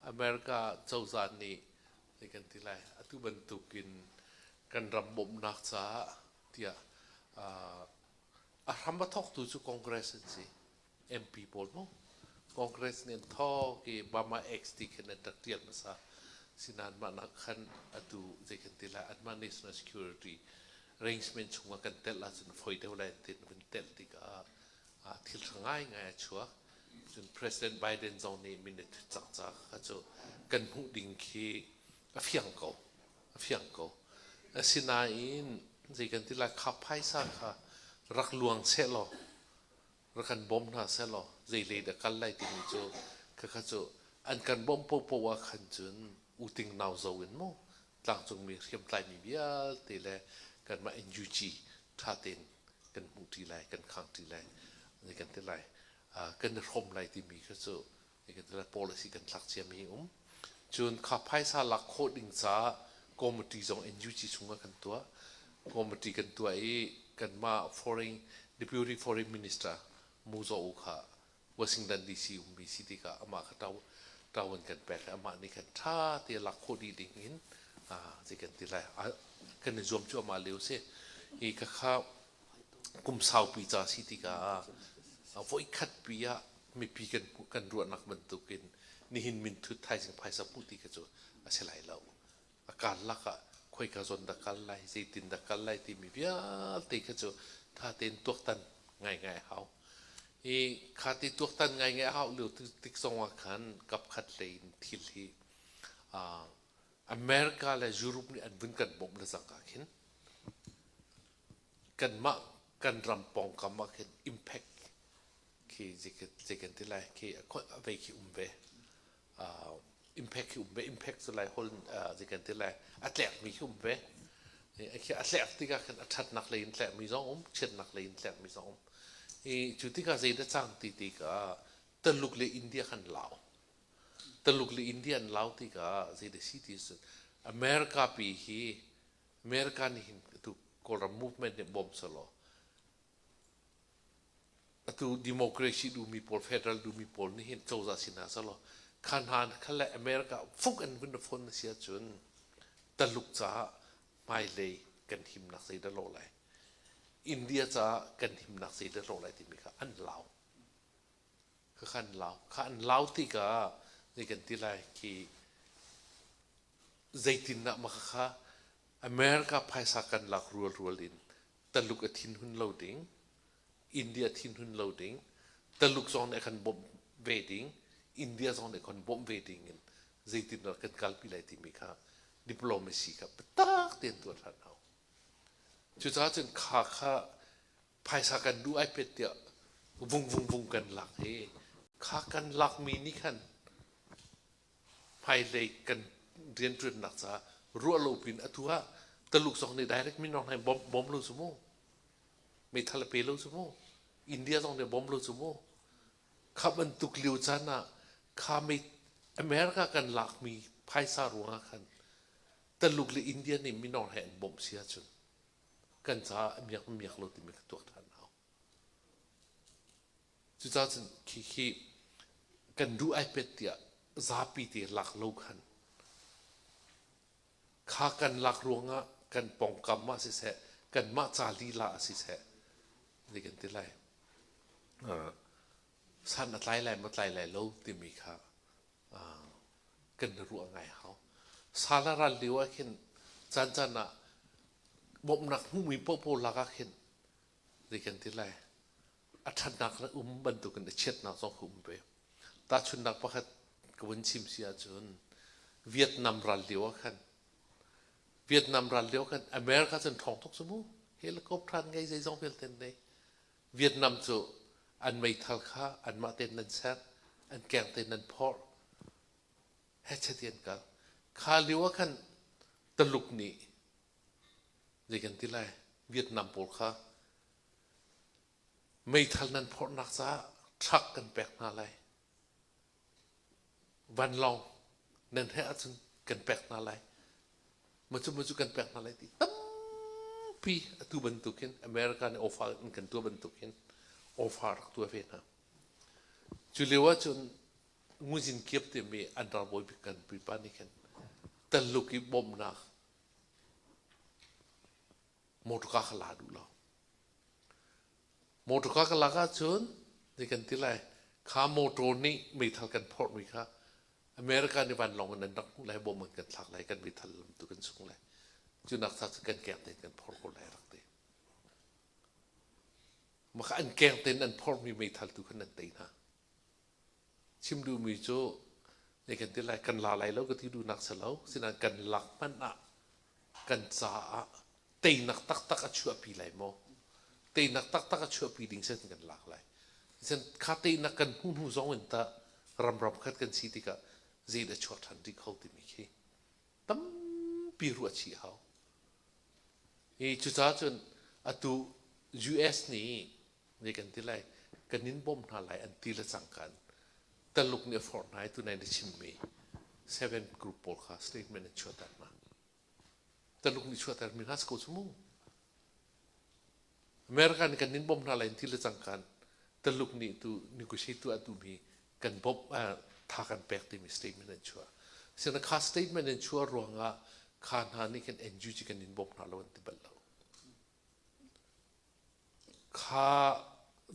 America cozah nih kan kan ti lai atu bantuk in kan ram bawmhnak caah tiah a hram a thawktu cu Congress an si MP pawl mu Congress nih an thawk i Bama Acts ti khin an tat tial hmasa sinan mah nak khan atu zei kan ti lai anmah national security arrangement chung ah kan tel ahcun foi deuh lai tin kan tel tikah ah thilṭha ngaingai a chuak. Cun President Biden zong nih minute cangca kha cu kan hmuh ding khi a fiang ko, a fiang ko. Asinain zei kan ti lai, kha phaisa kha rak luang seh law, rak kan bawm hna seh law, zei lei dah kal lai timi cu khakha cu an kan bawmh paohpaoh ah khan cun U Ting nau zo in maw tlangcungmi hriamtlaimi vialte le kanmah NUG ṭha tein kan hmuh ṭi lai, kan khang ṭi lai, ni kan ti lai. Uh, kan i hrawm lai timi kha cu ni kan ti lai policy kan tlak ciami um. Cun kha phaisa lak khawh ding caah committee zong NUG chungah kan tuah. Committee kan tuah i kanmah foreign deputy foreign minister Mu Zaw kha Washington DC ummi si tikah amah kha ṭo ṭo an kan pek i amah nih khan ṭha te a lak khawh dih ding in zei kan ti lai kan i zuam cu amah lio si i khakha kum saupi ca si tikah ah voikhat pi ah mipi kan kan ruahnak bantukin nihin minthut thaizing phaisa puh ti kha cu a si lai lo a karlak ah khoika zawn dah kal lai zeitin dah kal lai timi vialte kha cu tha tein tuaktan ngaingai a hau i kha ti tuaktan ngaingai a hau lio tik zong ah khan kapkhat lei in thil hi uh, America le Europe nih an vun kan bawmh le zangka khin kan mah kan ram pawngkam ah khin impact khi zekan ti lai khi a khoi vei khi um ve impact hi um ve impact cu lai hol zi kan ti lai a tlekmi hi um ve a tlek tikah khan a ṭhatnak lei in tlekmi zong um chiatnak lei in tlekmi zong um i cu tikah zeidah cang ti tikah Taluk le India khan lau Taluk le India an lau tikah zeidah si ti cun America pi hi America nih hin tu Kawlram movement nih bawm selaw atu democracy dumi pawl federal dumi pawl nih hin cozah sin ah selaw kha hna kha le america fuk in vun phone na si ahcun taluk caah hmailei kan himnak zei dah lo lai india caah kan himnak zei dah lo lai timi kha an lau kha kha an lau kha an lau tikah ni kan ti lai ki zeitindah makhakha America phaisa kan lak rualrual in Taluk a thinhun lo ding, India thinhun lo ding, Taluk zong nih a kan bawmh ve ding, India zong nih a kan bawmh ve ding in zeitindah kan kalpi lai timi kha diplomacy kha biatak tein tuah hlan hau. Cucaah cun kha kha phaisa kan duh ai pet tiah vung vung vung kan lak i kha kan lakmi nih khan hmaihlei kan rianṭuannak caah ruah lo piin a tu ah Taluk zong nih direct minor hlei bom, bom lo cu mu. Meithal a pe lo cu mu. India zong nih bom lo cu mu. Kha bantuk lio caan ah kha mei America kan laakmi phaisa ruangah khan Taluk le India nih minor he an bawmh si ahcun kan caah a miak miak lo timi ka tuak ṭhan a hau. Cucacun khikhi kan duh ai pet tiah zapi te lak lo khan kha kan lak ruangah kan pongkam ah siseh kanmah ca lila ah siseh ni kan ti lai san a tlai lai matlai lai lo timi kha kan ruah ngai hau sala ral lio ah khin caan caan ah bawmhnak hmuhmi paohpaoh lak ah khin ni kan ti lai a ṭhatnak na um bantukin a chiatnak zong ka um ve. Tahchunhnak pakhat ka vun chim si ahcun Vietnam ral lio ah khan Vietnam ral lio khan America cun ṭhawng tuk cu mu helicopter an ngei zeizong vialte an nei Vietnam cu an meithal kha anmah tein nan ser an keng tein nan phorh hechet i an kal kha lio ah khan Taluk nih zei kan ti lai Vietnam pawl kha Meithal nan phorhnak caah truck kan pek hna lai. Vanlawng nan he ahcun kan pek hna lai. Macu macu kan pek hna lai ti tampi atu bantuk hin America nih ofa in kan tuah bantuk hin ofa rak tuah ve hna. Cu lio ahcun nguzin kiap timi andar bawi bik kan pipa nih khin Taluk i bawmhnak motor ka ka la duh lo motor ka ka lak ahcun ni kan ti lai kha motor nih meithal kan phorhmi kha america nih vanlawng in an rak hmuh lai bom an kan thlak lai kan meithal lam tu kan sung lai cunak sa cu kan keng tein kan phorh ko lai rak ti maka an keng tein an phorhmi meithal tu khan an tei hna Chim duhmi cu ei kan ti lai, kan la lai lo ka ti duhnak si lo. Sinain kan lak hmanh ah kan caah teinak taktak a chuahpi lai maw? Teinak taktak a chuahpi ding sin kan lak lai. Sen kha teinak kan hmuh hnu zong in tah ramram khat kan si tikah zeidah chuah ṭhan dih kho timi khi tampi ruah chih hau. Hi cucaah cun atu US nih Ni kan ti lai, kan in bawmh hna lai an ti le cangkan. Taluk nih a forh hna i tunai na chimmi seven group pawl kha statement in chuahter hna. Taluk nih chuahtermi hna si ko cu mu. America nih kan in bawmh hna lai an ti le cangkan. Taluk nih tu negotiate tu a tuhmi kan bawmh uh, tha kan pek timi statement an chuah. Sina kha statement an chuah ruangah kha hna nih kan NUG kan in bawmh hna lo an ti bal lo. Kha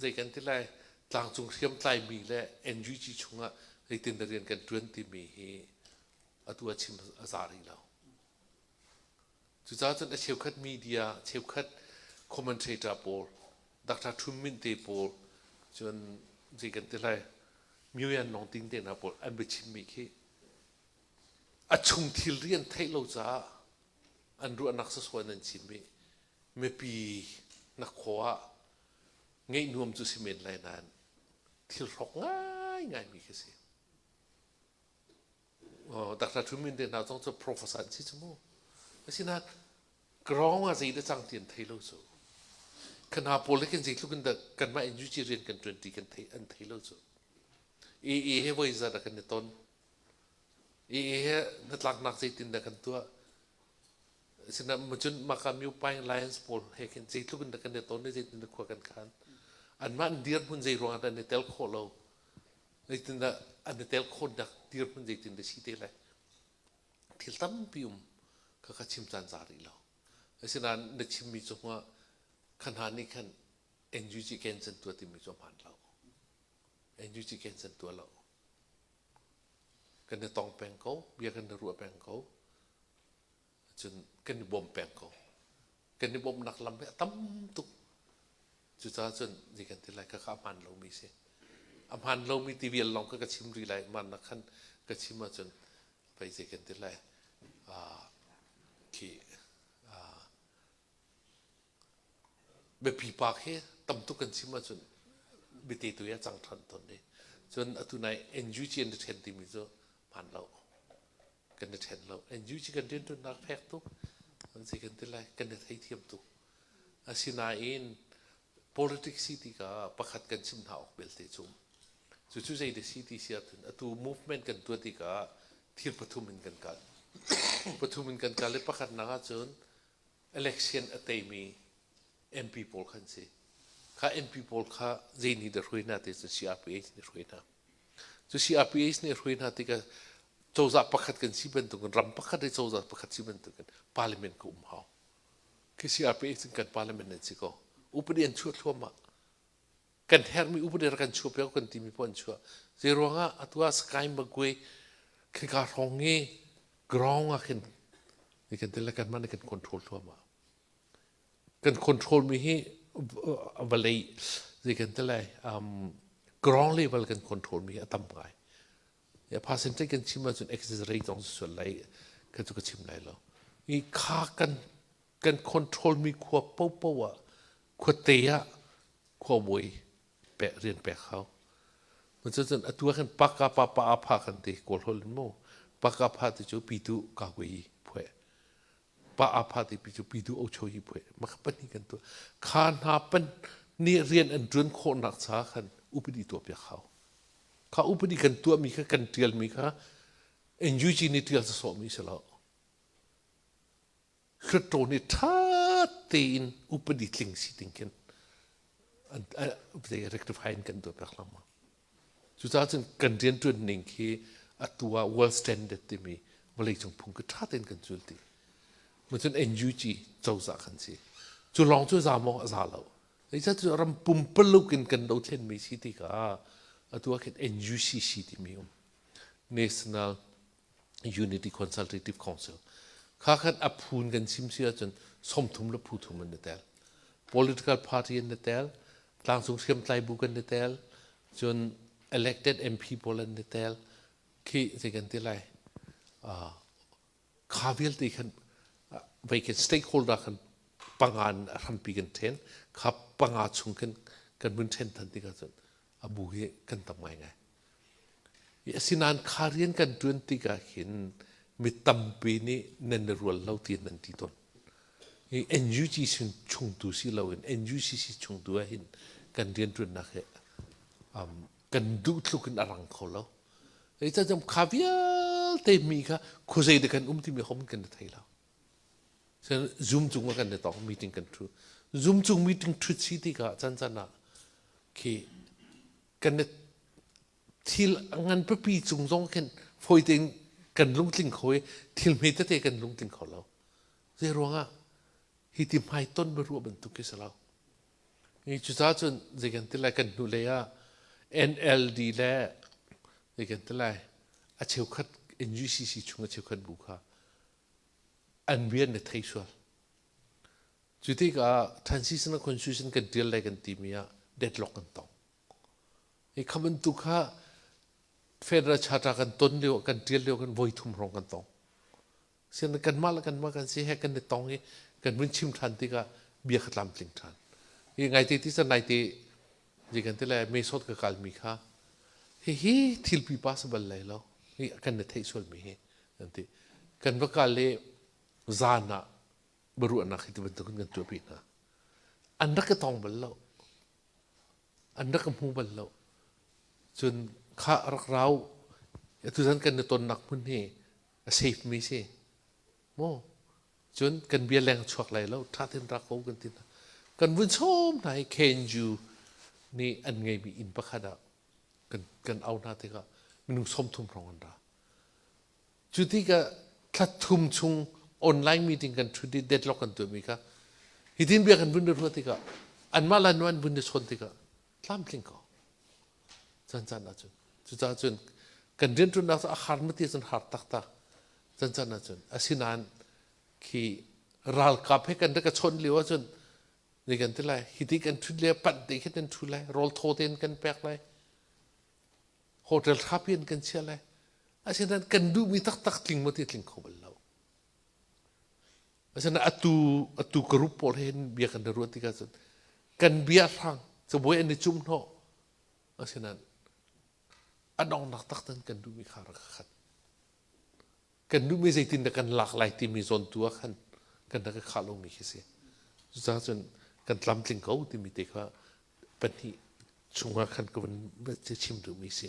zei kan ti lai, tlangcung hriamtlaimi le NUG chungah zeitin le rian kan ṭuan timi hi atu ah chim a za rih lo. Cucaah cun a cheukhat media, cheukhat commentator pawl, Dr. Ṭhum Minh te pawl cun zei kan ti lai, Myo Yan Lawng Tin te hna pawl an biachimmi khi a chung thilri an theih lo caah an ruahnak sersuai in an chim i mipi nak khua ah ngeih nuam cu si men lai nain thil hrawk ngaingai mi khi si Dr. Thumin te hna zong cu professor an si cu mu asinain ground ah zei le cang ti an thei lo cu ka hna pawl le kan zei tluk in kanmah NUG rian kan 20 kan thei an thei lo cu i i he voi zat a kan i ton Ii hi hnatlaknak zeitindah kan tuah? Asinain macun maka myopaing lions pawl he khin zeitluk in dah kan i ton i zeitindah khua kan khan? Anmah an dirhmun zei ruangah dah an i tel khawh lo? Zeitindah an i tel khawhnak dirhmun zeitindah si te lai? Thil tampi um kha ka chim caan za rih lo. Asinain na chimmi cungah kha hna nih khan NUG Gansan tuah timi cu a hmaan lo. NUG Gansan tuah lo. Kan i tong peng ko, bia kan i ruah peng ko. Cun kan i bawm peng ko. Kan i bawmnak lam hi a tam tuk. Cucaah cun ni kan ti lai, khakha a hmaan lomi a si. A hmaan lomi ti vial lawng kha ka chim rih lai. Mahnak khan ka chim ahcun pei zei kan ti lai. Khi Biapi paak hi tam tuk kan chim ahcun bite tu i a cang ṭhan tawn i cun atu nai NUG an i ṭhen timi cu hmaan lo. Kan i ṭhen lo. NUG kan rianṭuannak fek tuk an si kan ti lai. Kan i theithiam tuk. Asinain politics si tikah pakhat kan chim hna awk belte cu cucu zei de si ti si ahcun atu movement kan tuah tikah thir pathum in kan kal. pathum in kan kal i pakhatnak ahcun election a teimi MP pawl kha an si. Kha MP pawl kha zei nih dah hruai hna ti cu CRPH nih hruai hna. Cu CRPH nih hruai hna tikah cozah pakhat kan si bantukin ram pakhat le cozah pakhat si bantukin parliament ka um hau. Khi CRPH cun kan parliament an si ko. Upadi an chuah thluahmah. kan herhmi upadi rak kan chuah piak kan timi poh an chuah zei ruangah atu ah sky magwe khika hrawng i ground ah khin ni kan tel kan man kan control thluama kan control mi hi vale zei kan tel lai um ground level kan control mi a tam ngai ya percentage kan chim ahcun exit rate zong sual lai kan chu ka chim lai lo i kha kan kan controlmi khua popo ah khuate ah khuamui pek rian pek hau cun atu ah khan paka papa apha kan ti kawl hol mu paka pha ti cu pitu kahwei phuai pa apha ti pi cu pitu ocho hi phuai maka pani kan tu kha hna pan ni rian an ṭun khawh nak sa khan upadi tuah piak hau kha upadi kan tuah mi kha kan ṭial mi kha NUG nih ṭial sa so mi se lo Hluttaw nih ṭha tein upadi tling si ding khin rectify in kan duh piak hlangmang. Cucaah cun kan rianṭuan ning hi atu ah world standard timi vawleicung phung khi ṭha tein kan zul dih. Macun NUG cozah kan si. Cu lawng cu za mawng a za lo. Eicah cu ram pumpaluk in kan dothlenmi si tikah atu ah khin NUCC timi um National Unity Consultative Council kha khan a phun kan sim si ahcun somthum le phuthum an i tel political party an i tel tlangcung hriamtlai bu kan i tel cun elected MP pawl an i tel khi zei kan ti lai kha vialte khan vei kan stakeholder khan panga in a hrampi kan ṭhen kha panga chung khan kan vun ṭhen than tikah cun a bu hi kan tam ngaingai asinain kha rian kan ṭuan tikah khin mi tampi nih nan i rual lo ti nan ti tawn i NUG sin chungtu si loin NUCC chungtu ah hin kan rianṭuannak hi um, kan duh tluk in a rang kho lo ei ca jam kha vialte mi kha khuzei de kan um timi hom kan i thei lo Zoom cung ah kan i tong meeting kan thu Zoom cung meeting thut si ti kah chan chan ah khi kan i thil ngan pipi cung zong khin foi tein kan lung tling kho i thil hme tete kan lung tling kho lo. Zei ruang ah hi ti hmai ton ma ruah bantuk khi si lo. Cucaah cun zei kan ti lai kan hnu lei ah NLD le zei kan ti lai a cheukhat NUCC chung a cheukhat bu kha an rian na thei sual. Cu tikah transitional constitution kan tial lai kan timi ah deadlock kan tong. Hi kha bantuk kha Federal Charter kan ton lio, kan tial lio kan voi thum hrawng kan tong. Sian kanmah le kanmah kan si he kan i tong i kan vun chim ṭhan tikah bia ka tlamtling ṭhan. I ngaite ti sa naite je kan ti le mesot ka kalmi kha hihi thil pipa si bal lai lo hi kan na theih sualmi hi an ti kan va kal le zan ah baruahnak hi ti bantukin kan tuahpi hna an rak ka tong bal lo an rak ka hmu bal lo cun kha rak rau atu zan kan na tonnak hmun hi a seipmi si maw cun kan bia leng a chuak lai lo ṭha tein ra ko kan ti hna kan vun sawm hna i kenju nih an ngeimi inn pakhat ah kan kan au hna tikah minung sawmthum hrawng an ra cu tikah thlathum chung online meeting kan ṭhu i deadlock kan tuahmi kha hitin bia kan vun na ruah tikah anmah la nu an vun na chawn tikah tlamtling ko Chan caan ahcun. Cucaah cun kan rianṭuannak cu a har na ti cun har taktak. Chan caan ahcun. Asinain khi ralkap he kan rak ka chawnh lio ahcun ni kan ti lai. Hi ti kan ṭhut lai, panh te khi kan ṭhu lai, rawl thaw te in kan pek lai. Hotel ṭha pi in kan chiah lai. Asinain kan duhmi taktak tling maw ti tling kho bal lo. Asinain atu atu ka rup pawl hen bia kan na ruat tik ahcun kan bia hrang cabuai an i cum hnawh asinain a dongnak taktan kan duhmi kha rak ka khat kan duhmi zeitin dah kan lak lai timi zawn tu ah khan kan rak ka khah lomi khi si cucaah cun kan tlamtling ko timi te kha pahnih chungah khan ka vun chim duhmi si